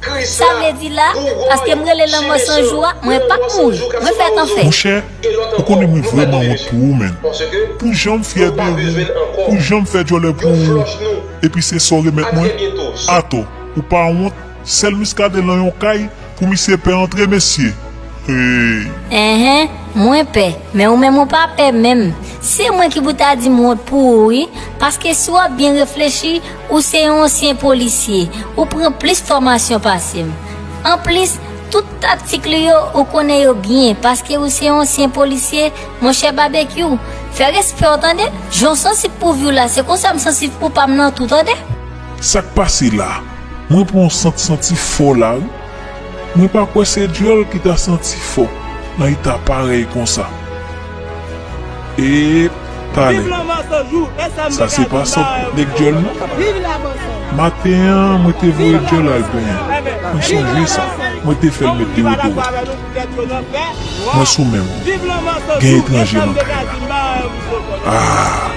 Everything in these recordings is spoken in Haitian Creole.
Kris la, Bougòy, Chimè Son, mwen lanmò san jou kap separe'w zo. Monchè, ou konnen mwen vrèman wont pou ou menn. Pou jan'm fyè de ou, pou jan'm fè djòlè pou ou, epi se sa'w remèt mwen? Atò, ou pa wont, sèl Muscadin lan yon kay pou misye pè antre mesye! Heyy! Enhen, mwen pè, men ou menm ou pa pè menm. Se mwen ki pou ta di'm wont pou ou wi, paske si wap byen reflechi, Ou se yon ansyen polisye, ou pran plis fòmasyon pase m. Anplis, tout taktik li yo, ou konnen yo byen paske ou se yon ansyen polisye, monchè Babekyou. Fè respè w tande, jan w sansib pou vi w la se konsa m sansib pou pa m nan tou tande. Sa k pase la? Mwen pran yon sant santi fò la wi. Mwen pa kwè se dyòl ki ta santi fò nan eta parèy konsa. Epa nèg sa se pa sòt nèg dyòl non maten an mwen te voye dyòl al benyen mwen sonje sa mwen te fèl met dewodoran mwen sou menm gen etranje nan kay la aah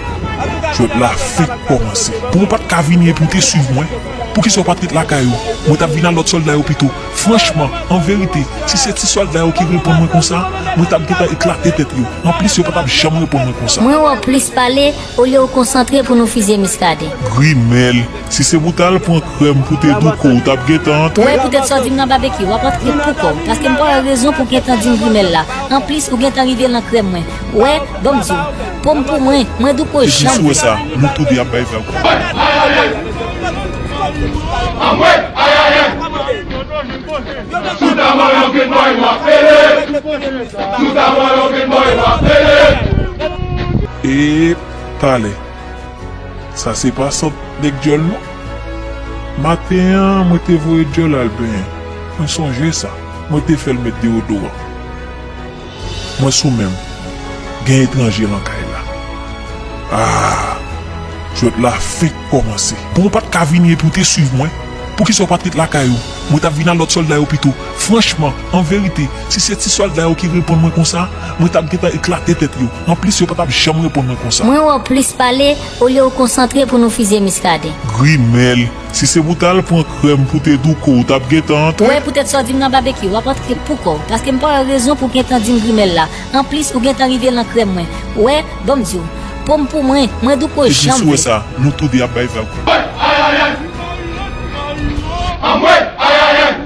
jwèt la fenk kòmanse. Pou ou pat ka vini epi ou te swiv mwen, poukisa ou pat ret lakay ou, mwen tap vin al lòt sòlda yo pito. Franchman, an verite, si se ti sòlda yo ki reponn mwen konsa, mwen tap gentan eklate tèt yo. Anplis yo pa tap janm reponn mwen konsa. Mwen wè w plis pale olye w konsantre pou nou fizye Muscadin. Grimèl, si se pou w tal pran krèm pou te douko w tap gentan antre. Wè poutèt sa w di m nan babekyu, w ap antre poukò w, paske m pa wè rezon pou w gentan di m grimèl la. Anplis ou gentan rive lan krèm mwen. Wè, ban m di w. Pom pou mwen, mwen di ko janm. Depi sou sa, nou tou 2 ap bay vag pou mwen. Anmwey ayayay! Sou ta mòlò Grenn Bòy wap pele! Sou ta mòlò Grenn Bòy wap pele! Ee talè sa se pa sant nèg dyòl non. Maten an mwen te voye dyòl al benyen, mwen sonje sa, mwen te fè l met deodoran. Mwen sou menm gen etranje lan kay la aah jwèt la fenk kòmanse. Bon ou pat ka vini epi ou te swiv mwen poukisa ou pat ret lakay ou mwen tap vin a lòt sòlda yo pito franchman an verite si se ti sòlda yo ki reponn mwen konsa mwen tap gentan eklate tèt yo anplis yo patap janm reponn mwen konsa. Mwen wè w plis pale olye w konsantre pou nou fizye Muscadin. Grimèl Si se pou tal pran krèm pou te douko ou tap gentan antre. Wè poutèt sa w di m nan babekyou, w ap antre pouko w, paske m pa wè rezon pou w gentan di m grimèl la. Anplis, ou gentan rive lan krèm mwen. Wè, bon m di w, po m pou mwen, mwen douko jan m vle. Epi si w wè sa, nou tou de ap bay vag. Anmwey! Ayayayy! Anmwey! Ayayayy!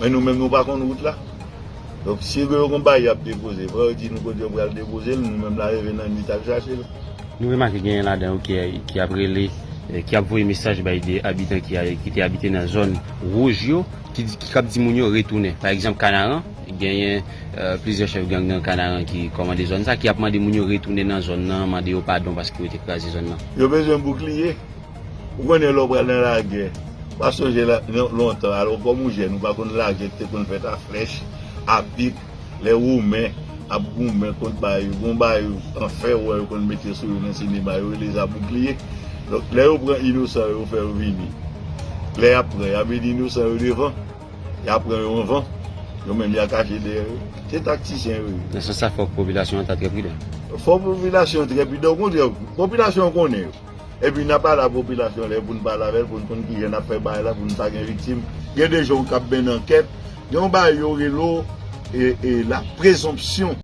Men nou menm nou pa konn wout la. Donk si gen yon konpayi ap depoze, fò yo di nou kote yo pral depoze l, nou menm la leve nan nwit al chache l. Nou remake genyen ladan yo ki ap rele, ki ap voye mesaj bay de abitan ki te abite nan zòn wouj yo, ki ap di moun yo retounen. Pa egzanp Kanaran, genyen plizyè chèf gang nan Kanaran ki kòmande zòn sa, ki ap mande moun yo retounen nan zòn nan, mande yo padon paske yo te kraze zòn nan. Yo bezwen boukliye, Ou konnen lè w pral nan lagè, ou pa sonje lontan alò kòm ou jèn ou pa konn lagè ki te konn fèt a flèch, a pik, lè women ap goumen kont bay yo, gon bay an fè wè yo konn mete sou yo nan sinema yo rele zaboukliye, donk lè yo pran inosan yo fè yo vini, lè y ap pran y ap mete inosan yo devan, y ap pran yo anvan, yo menm y a kache dèyè yo, se taktisyen yo ye. Nan sans sa fòk popilasyon an ta trè pridan. Fòk popilasyon trè pridan, okontrè popilasyon an konnen yo. Epi nap ala popilasyon lè poun pale avèl poun konn kijan nap fè bagay la poun pa gen viktim gen de jan ou kap benn ankèt gen yon bagay yo rele w la prezonpsyon.